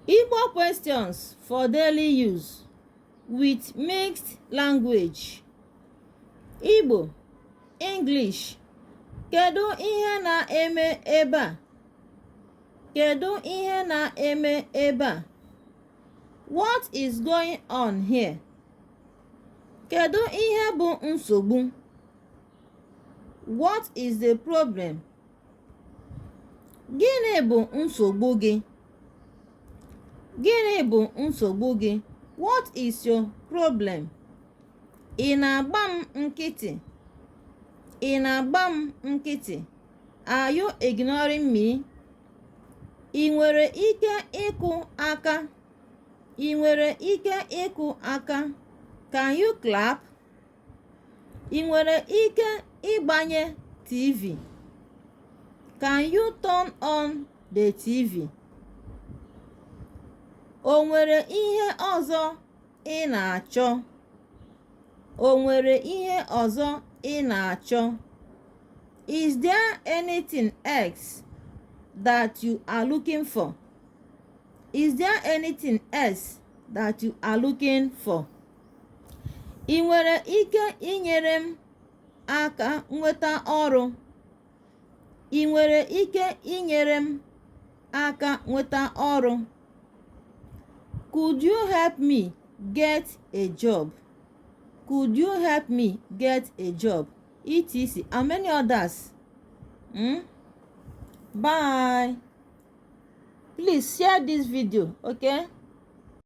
Igbo questions for daily use with mixed language Igbo English Kedu ihe na-eme ebe a? Kedu ihe na-eme ebe a? What is going on here? Kedu ihe bụ nsogbu? What is the problem? gịnị bụ nsogbu gị gịnị bụ nsogbu gị what is your problem ị na-agba m nkịtị ị na-agba m nkịtị are you ignoring me ị nwere ike ịkụ aka ị nwere ike ịkụ aka can you clap ị nwere ike ịgbanye tv can you turn on the tv o nwere ihe ọzọ ị na-achọ o nwere ihe ọzọ ị na-achọ is there anything else that you are looking for is there anything else that you are looking for ị nwere ike inyere m aka nweta ọrụ ị nwere ike inyere m aka nweta ọrụ could you help me get a job could you help me get a job etc and many others hmm? bye please share this video okay